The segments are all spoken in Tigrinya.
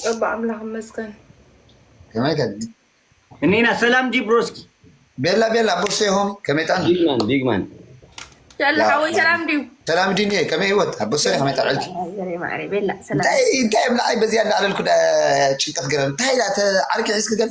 ጸባ ኣምላኽ ይመስገን። ከመይ ከ እኔና ሰላም ዲ ብሮስኪ ቤላ ቤላ ቦርሴ ሆም ከመይ ጣና ቢግማን ቢግማን ያለ ሓወይ ሰላም ድዩ ሰላም ዲኒ ከመይ ህይወት ኣብ ቦርሴ ከመይ ጣዕልኪ ዘሬ ማዕሬ ቤላ ሰላም እንታይ እንታይ ኣብ ላዕሊ በዚያ ላዕለልኩ ጭንቀት ገረን እንታይ ኢላ ዓርኪ ሒዝኪ ገል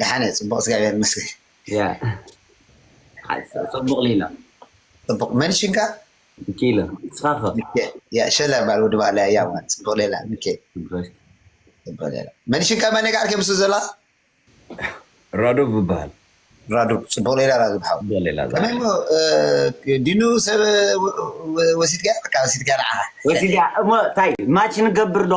ደሓን እየ ፅቡቅ እግዚኣብሔር ይመስገን ፅቡቅ ሊላ ፅቡቅ መን ሽንካ ሚኪኤለ ንስኻ ከ ሸለ ባል ወዲ ባዕላ እያ ፅቡቅ ሌላ ሚኪኤል ፅቡቅ ሌላ መን ሽንካ መን ጋር ከምሱ ዘላ ራዶብ ይበሃል ራዶብ ፅቡቅ ሌላ ራዶብ ሓው ከመይ እሞ ዲኑ ሰብ ወሲድካ ወሲድካ ንዓኻ ወሲድያ እሞ እንታይ ማች ንገብር ዶ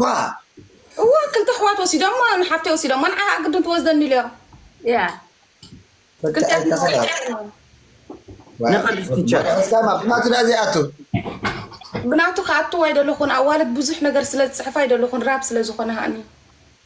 ጓል እወ ክልተ ኣሕዋት ወሲዶማ ንሓፍተይ ወሲዶማ ንዓ ከዓ ግድን ትወስደኒ ኢሎም ያ ክልቲኣትና ወሲዶም ንቅድስ ቲቸር ሰማ ብናቱ ድኣ ዘይኣቱ ብናቱ ክኣትው ኣይደለኹን ኣዋልድ ብዙሕ ነገር ስለ ዝፅሕፋ ኣይደለኹን ራብ ስለ ዝኾነ ሃኒ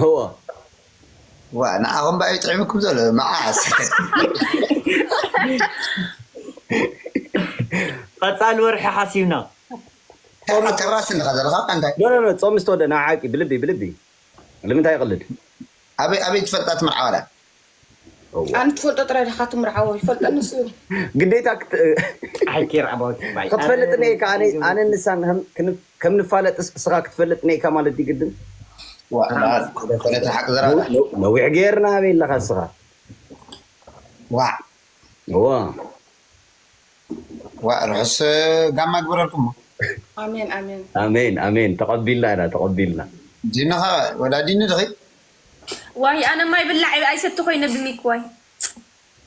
እወ ዋእ ንዓኹም ባዩ ጥዒሙኩም ዘሎ መዓስ ቀፃሊ ወርሒ ሓሲብና ጾም ጭራሽ እንዲኻ ዘለኻ እንታይ ኖ ኖ ኖ ጾም ምስ ተወደእ ንዓዓቂ ብልቢ ብልቢ ልምንታይ ይቕልድ ኣበይ ኣበይ ትፈልጣ እቲ መርዓ ዋላ ኣነ ትፈልጦ ጥራይ ዲካ ትምርዓዎ ይፈልጦ ንሱ እዩ። ግዴታ ክትፈልጥ እኒኤካ ኣነን ንሳን ከም ንፋለጥስ እስካ ክትፈልጥ እኒኤካ ማለት ድዩ ግድን። ነዊሕ ገይርና ኣበይ ኣለካ እስካ። ዋእ ዋእ ርሑስ ጋማ ይግበረልኩም። ኣሜን ኣሜን ተቀቢልና ኢና ተቀቢልና። ዲኒ ከ ወላ ዲኒ ዲኪ። ዋይ ኣነ ማይ ብላዕ ኣይሰቲ ኮይነ ብሚክ ዋይ።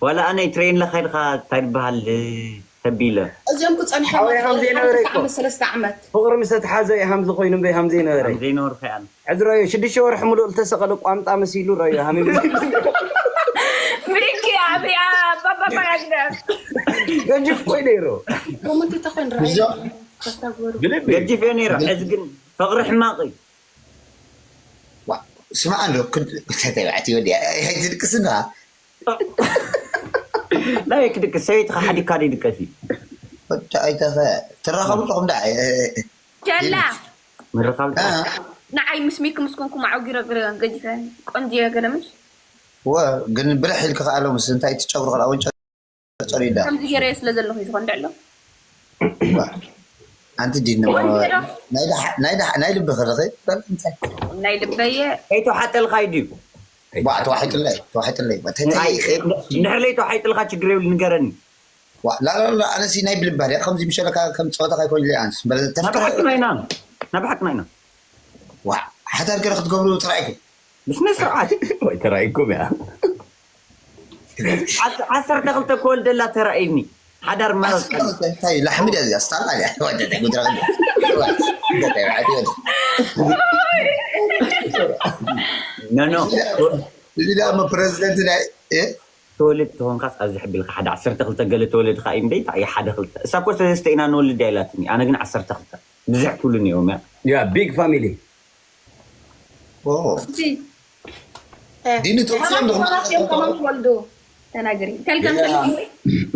ዋላ ኣነ ትሬን ለካይድካ ታይ ድበሃል ተቢለ። እዚኦም ክጸንሑ እዮም ሓወይ ሃምዘይ ነበረ እኮ ፍቅሪ ምስ ተትሓዘ እዩ ሃምዚ ኮይኑ እምበይ ሃምዘይ ነበረ ሕዚ ረዮ ሽዱሽተ ወርሒ ሙሉእ ልተሰቀለ ቋንጣ መሲሉ ረዮ ሃሚሙ ገጅፍ ኮይ ነይሩ ገጅፍ እዮ ነይሩ ሕዚ ግን ፍቅሪ ሕማቅ እዩ ስማዕ ኣሎ ክልተ ተባዕትዮ ኣይትድቅስና ናይ ክድቅስ ሰበይትካ ሓዲግካ ዶ ይድቀስ እዩ ወዲ ኣይተኸ ትራኸቡ ኣለኹም ዳ ቸላ ምርኻብ ንዓይ ምስ ሚኪ ምስ ኮንኩም ኣዕጊረ ግሪዮን ገዲፈ ቆንጅየ ገለ ምስ ወ ግን ብርሕ ኢልክ ከኣሎ ምስ እንታይ ትጨብሩ ከላ ወንጨ ጸሪዳ ከምዚ ገይረዮ ስለ ዘለኹ እዩ ዝኾን ድዕሎ ኣንቲ ዲ ናይ ልቢ ክርኺ እንታይ ናይ ልበየ ከይተዋሓጠልኻይ ድዩ ዋ ተዋሒጥለይ ተዋሒጥለይ ድሕር ለይ ተዋሒጥልካ ችግር የብሉ ንገረኒ ላላላ ኣነሲ ናይ ብልባ ድያ ከምዚ ምሸለካ ከም ፀወታ ካይኮይንለይ ኣንስ ናብሓቅና ኢና ናብሓቅና ኢና ዋ ሓዳር ገረ ክትገብሩ ተራኢኩም ብስነ ስርዓት ወይ ተራኢኩም እያ ዓሰርተ ክልተ ክወልደላ ተራእዩኒ ሓዳር ማረት ዓሰርተ ቀንዲ ክልተ እንታይ ላሕሚ ድያ እዚኣ ስታላ ድያ ወደተ ጉድረ ወደተ በዓቲ ወደ ኖኖ እዚ ድያ እሞ ፕረዚደንት ናይ እ? ተወልድ ተኾንካስ ኣብዚ ሕቢልካ ሓደ ዓሰርተ ክልተ ገለ ተወለድኻ እዩ እምበይ እንታይ እዩ ሓደ ክልተ እሳ እኮ ሰለስተ ኢና ንወልድ እያ ኢላትኒ ኣነ ግን ዓሰርተ ክልተ ብዝሕ ክብሉ ነይሮም እያ ያ ቢግ ፋሚሊ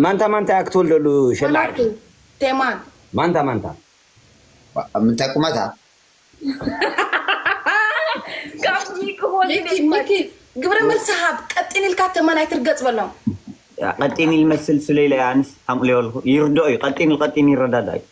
ማንታ ማንታ እያ ክትወልደሉ ሸላ ዓርኪ ማንታ ማንታ ኣብ ምንታይ ቁመታ ግብረ መልሲ ሃብ ቀጢን ኢልካ ተመን ኣይትርገፅ በሎም ቀጢን ኢል መስል ስለኢለ ኣንስ ኣምቅልዮ ኣለኩ ይርድኦ እዩ ቀጢን ኢል ቀጢን ይረዳዳእ እዩ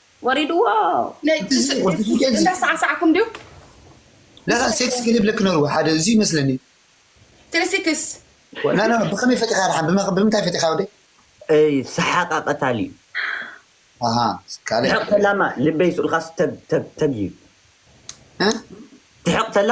ወሪድዎ እንዳሳዕሳዕኩም ድዩ ለካ ሴክስ ክሊፕ ልክ ነርዎ ሓደ እዚ ይመስለኒ ትሪሲክስ ናና ብከመይ ፈቲኻ ድሓን ብምንታይ ፈቲኻ ወደ ሰሓቃ ቀታሊ ትሕቕ ተላማ ልበይ ስኡልካ ተግ ተግ ተግ እዩ ትሕቕ ተላ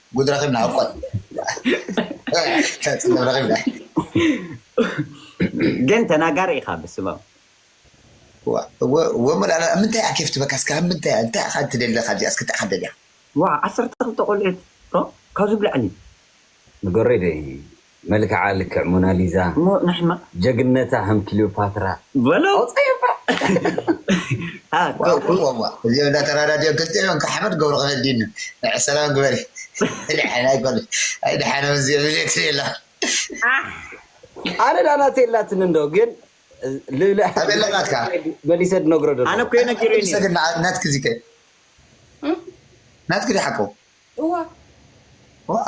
ጉድ ረኺብና ኣቆል ፅልም ረኺብና ግን ተናጋሪ ኢኻ ብስማም ወሞላላ ምንታይ እያ ኬፍ ትበካ እስካ ምንታይ እንታይ ኢኻ ትደሊ ካብዚኣ እስኪ እንታይ ኢኻ ትደልያ ዋ ዓሰርተ ክልተ ቆልዑት ካብዚ ብላዕሊ ንገረይ ደይ መልክዓ ልክዕ ሞናሊዛ እሞ ንሕና ጀግነታ ከም ክሊዮፓትራ በሎ ኣውጻዮ እባ። ዋውውውውው እዚኦም እንዳ ተራዳድዮም ክልቲኦም እንካዕ ሓመድ ገብሩ ከከዲኑ ንዐ ሰላም ግበሪ ደሓን ኣይኮኑን ኣይ ደሓኖም እዚኦም ይዘትሪ ኣለኹ ዓሕ ኣነ ዳኣ ናተይ ኣላትኒ እንዶ ግን ልብለ ኣበይ ኣላ ናትካ መሊሰ ድነግሮ ኣነ ደለኹ። እኮ እዩ ኣይ ነጊሩኒ መሊሰ ግን ንዓ- ናትኪ እዚ ከ ናትኪ ድዩ ሓቁ እዋ ዋእ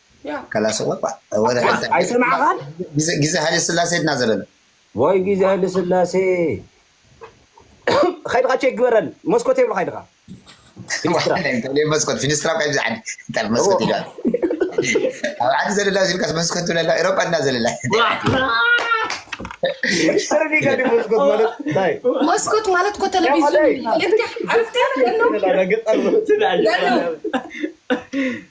ከላስ እባ ወረ ሕልታ ግዜ ሃይለ ስላሴ ድና ዘበለ ወይ ግዜ ሃይለ ስላሴ ከይድካ ቼክ ግበረን መስኮት የብልካ ይድካ መስኮት ፊኒስትራ ካብ ዝዓዲ እንታይ መስኮት ኢሉ ኣብ ዓዲ ዘለላ ዝልካስ መስኮት ትብለላ ኤሮፓ ድና ዘለላ መስኮት ማለት እኮ ቴሌቪዥን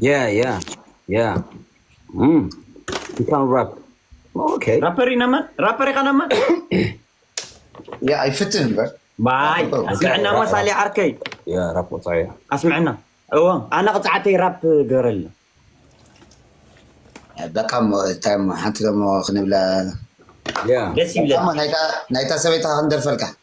Yeah, yeah, yeah. Mm. You can rap. Okay. ራፐር ኢነማ ራፐር ኢኻ ነማ ያ ኣይፍትን እምበር ባይ ኣስምዐና እሞ ሳሊ ዓርከይ Yeah, rap what's I? ኣስምዐና እዎ ኣነ ቅፅዓተይ ራፕ ገረልና በቃ እሞ እንታይ እሞ ሓንቲ ደሞ ክንብላ Yeah. ደስ ይብለ በቃ እሞ ናይታ- ናይታ ሰበይታ ክንደርፈልካ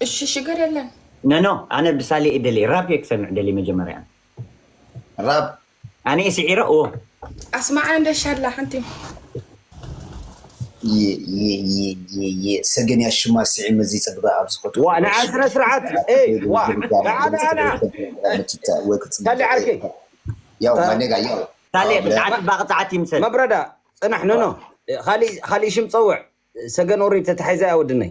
እሺ ሽግር የለን። ኖኖ ኣነ ብሳሌ እየ ደልየ ራፕ እየ ክሰምዕ ደልየ መጀመርያ ኣነ። ራፕ ኣነ እየ ስዒረ እዎ። ኣስማዓና እንደ ሻላ ሓንቲ የየየየ ሰገን እያ ሽማ ስዒ መዚ ፀግባ ኣብ ዝኸቱ ዋ ንዓ ስነ ስርዓት ኤይ ዋ ንዓ ንዓ ንዓ ሳሌ ዓርከይ ያው ማኔጋ ያው ሳሌ ብዛዕባ ፅባቕ ፀዓት ይምሰል መብረዳ ፅናሕ ኖኖ ኻሊእ ኻሊእ ሽም ፀውዕ ሰገን ኦሬዲ ተታሒዛ እያ ወድነይ።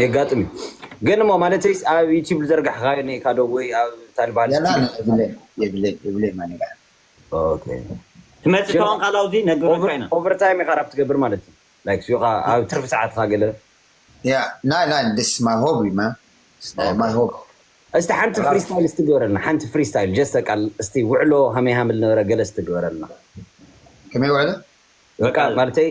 የጋጥም ግን እሞ ማለት ኣብ ዩቲብ ዝዘርጋሕካ ኒካ ዶ ወይ ኣብ ታልባል ትመፅእ ተዋን ካላው ዚ ነግበካ ኢና ኦቨርታይም ኢካ ራብ ትገብር ማለት እዩ ላይክ ስዩካ ኣብ ትርፊ ሰዓትካ ገለ እስቲ ሓንቲ ፍሪስታይል እስቲ ግበረልና ሓንቲ ፍሪስታይል ጀስት በቃ እስቲ ውዕሎ ሃመይ ሃምል ነበረ ገለ እስቲ ግበረልና ከመይ ውዕሎ በቃ ማለተይ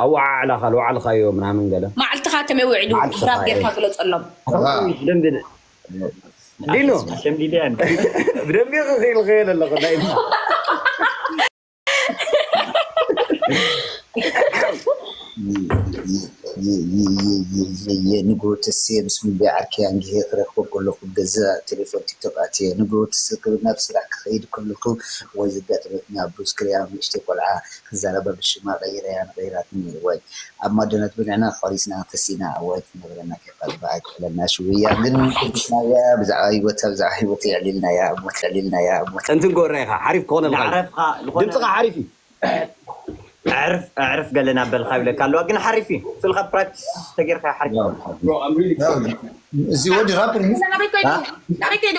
ኣወዓዕላኻ ልውዓልኻዮ ምናምን ገለ ማዕልትኻ ከመይ ውዒሉ መዓልትኻ ራብ ጌርካ ግለጸሎም። ኣኸተምሽ ብደንቢ ን- ዲኖ ኣነስ ኣሸምዲደያ እንደ ብደንቢ ክኽኢልኸዮ ዘለኹ ናይ እማ ንግሆ ተስየ ምስ ሙሉየ ዓርከይ ኣንጊሀ ክረኽቦ ከለኹ ገዛ ቴሌፎን ቲክቶክ ኣትየ ንግሆ ትስ ክብል ናብ ስራሕ ክኸይድ ከለኹ ወይ ዘጋጠመትኒ ኣብ ዱስ ክሪኣ ንእሽተይ ቆልዓ ክዛረባ ብሽማ ቀይረያ ንቀይራትኒ ወይ ኣብ ማዶነት ብልዕና ቆሪስና ተሲእና ወይ ትነብረና ከይፋል ባእ ኣይትበለና ሽውያ ግን ኩቡስናያ ብዛዕባ ሂወታ ብዛዕባ ሂወተይ ኣዕሊልናያ እሞ ተዕሊልናያ እሞ እንትንጎ እረይካ ሓሪፍ ክኮነ ምዓረፍካ ልኮነ ድምጽካ ሓሪፍ እዩ ኣዕርፍ ኣዕርፍ ገለ ናብ በልካ ይብለካ ኣለዋ ግን ሓሪፍ እዩ ፍልካ ፕራክቲስ ተገርካ ሓሪፍ ክኮን። እዚ ወዲ ራፕ ድዩ ናበይ ከይዱ ናበይ ከይዱ።